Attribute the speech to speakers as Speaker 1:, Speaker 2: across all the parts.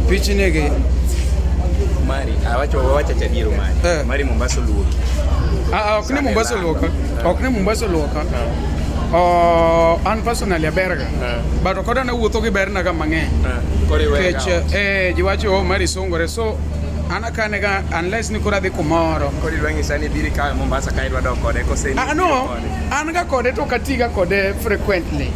Speaker 1: Pichi nege mari awacho ah, wawacha cha diero mari eh. mari Mombasa luoki ah, ah ok ni Mombasa luoka eh. ok ni Mombasa luoka eh. oh, an personally aberga eh. but okoda na wuotho gi berna ga mang'eny kech eh jiwacho oh, mari songore so an akane ga unless ni kora dhi kumoro kodi dwangi sani biri ka Mombasa ka idwa dok kode kose ah no An ga kode to katiga kode frequently.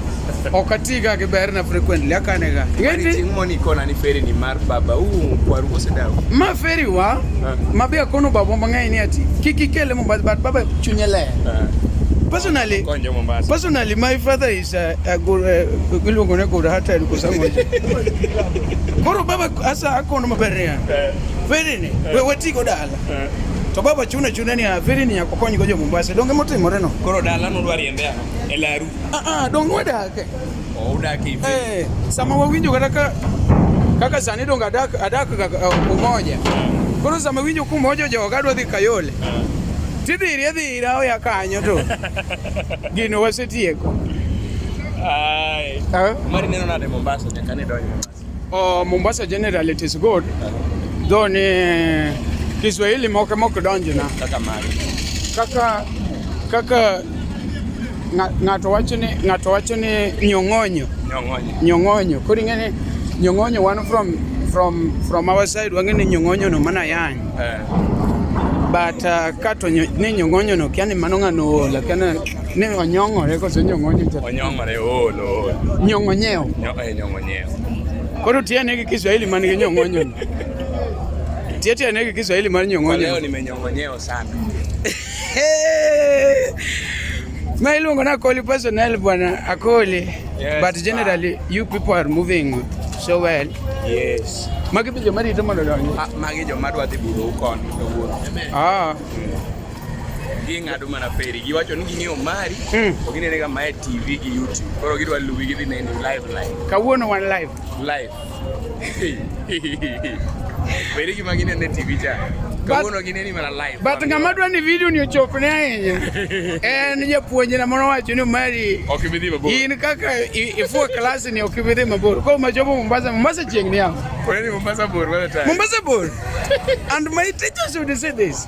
Speaker 1: Ok atiga gi berna frequently akane ga. Ngeti ting moni kona ni feri ni mar baba u kwaru kose dawo. Ma feri wa ah. ma be akono baba mang'eny ni ati kiki kele mo bad baba chunye le. Ah. Personally, personally, my father is a, a good, uh, iluongo ne good hearted kwa sababu koro baba asa akono maber niya. Feri ni, we watigo dala. To baba chune chune ni aviri ni yakokony go jo Mombasa. Donge motimore no. Koro dala no dwari ende ano. E laru. Ah ah donge wadake. Oh udake hivi. Eh, sama wawinjo kata ka kaka sani donge adak adak uh, umoja. Koro sama winjo kumoja jo gadwa dhi Kayole. Tidhiri adhira oya kanyo to. Gino wasetieko. Ai. Mari neno nade Mombasa nyaka ni donjo. Oh, Mombasa generally it is good. Though ni Kiswahili moke moke donjo na. Kaka mali. Kaka kaka ng'ato wacho ni ng'ato wacho ni nyong'onyo. Nyong'onyo. Nyong'onyo. Kodi ngene nyong'onyo one from from from our side wangene nyong'onyo no mana yang. Eh. But uh, kato ni nyong'onyo no kiani mano ng'ano ola kiani ni onyong'ore koso nyong'onyo. Onyong'ore olo. Nyong'onyeo. Nyong'onyeo. Nyong'onyeo. Koro tiene gi Kiswahili man gi nyong'onyo. Tie tiene gi Kiswahili man nyong'onyo. Leo nimenyong'onyeo sana. Ma iluongo na Akoli personnel bwana Akoli. Yes, but generally man. you people are moving so well. Yes. Magi be joma rito mondo donji. Ah, magi joma dwa dhi buru kon. Ah. ging'ado mana feri giwacho ni ging'eyo mari mm. to ginenega mae tv gi youtube koro gidwa luwi gidhi neni live live kawuono wan live live beri gima ginene tv cha kawuono gineni mana live but ng'ama dwa ni video ni ochopne ahinya en japuonjna moro wacho ni mari ok ibi dhi mabor in kaka ifuo klas ni ok ibi dhi mabor koro machopo mombasa mombasa chieng' ni yawo mombasa bor mombasa bor and my teachers would say this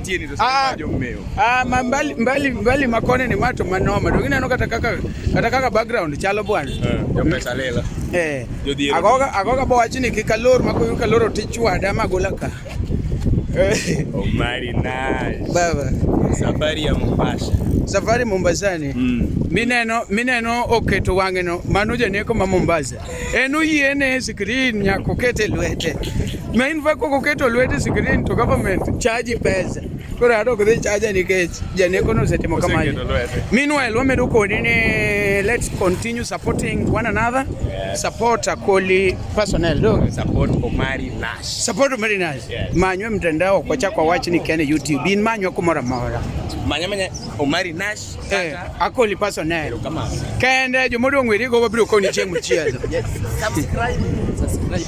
Speaker 1: tieni to ah, jo meyo ah ma mbali mbali mbali makone ni mato manoma dongi neno kata kaka kata kaka background chalo bwana eh, jo pesa lela eh agoga agoga bo wachini kikalor makoyo kaloro tichwada magola ka eh. Omari nice. Baba. Safari ya Mombasa. Safari Mombasani. Mm. Mineno mineno oketo wang'eno mano janeko ma Mombasa. En oyiene screen nyaka oket e lwete. Ma in fa kok oketo lwete screen to government charge pesa. Koro ato ok dhi charge nikech janeko no osetimo kamano. Meanwhile wamedo kodi ni let's continue supporting one another. Yes. Support Akoli personnel do. Support Omari Nash. Support Omari Nash. Yes. Manywe mtandao kwa chakwa wach ni kene YouTube. In manywa kumora mora. Manywa manya Omari Nash. Eh, akoli paso ne. Kende jomodong' weri go wabiro koni chieng' mochielo. Subscribe. Subscribe.